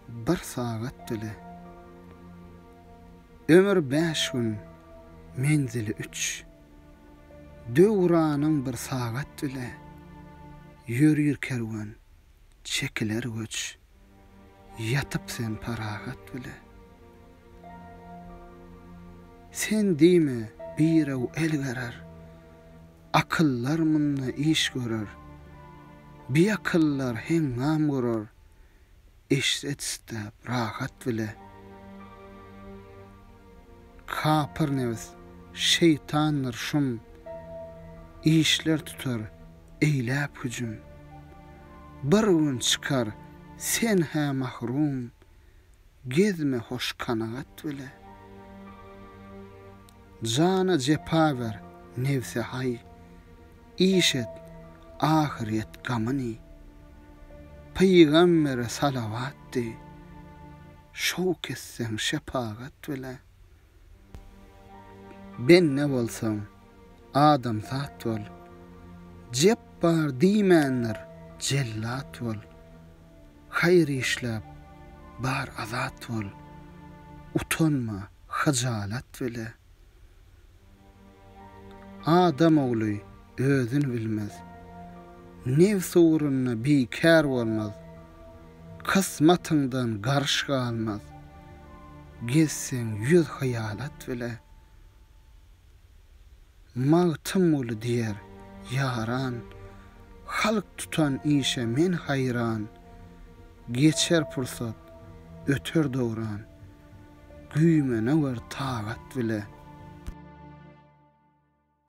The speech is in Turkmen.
Bir sagat dili. Ömür bäş gün, menzili üç. Döwranyň bir sagat dili. Ýörir kerwen, çekiler göç. Ýatyp sen parahat bile. Sen diýme, birew el gerer. Akyllar munda iş görer. Biakyllar heňňam gurar. Eşret-isläp rahat bile. Kapyr nebs, şeýtandyr şum. Işler tutar eýläp hüjüm. Bir gün çykar sen-hä mahrum. gezme hoş kanagat bile. Jana jepa ber, nebse haý, iş et, ahyryet gamyny. Pygambere salawat diý, şowk etseň şepagat bile. Bende bolsaň, adamzat bol. Jepbar diýmändir, jellat bol. Haýyr işläp, bar azat bol. Utanma, hyjalat bile. Adam ogly özüni bilmez. Nebs ugrunda bikär bolmaz. Kysmatyňdan garyş galmaz. Gezseň ýüz hyýalat bile. Magtymguly diýer, ýaran. Halk tutan işe men haýran. Geçer pursat, öter dowran. Güýmene wer tagat bile.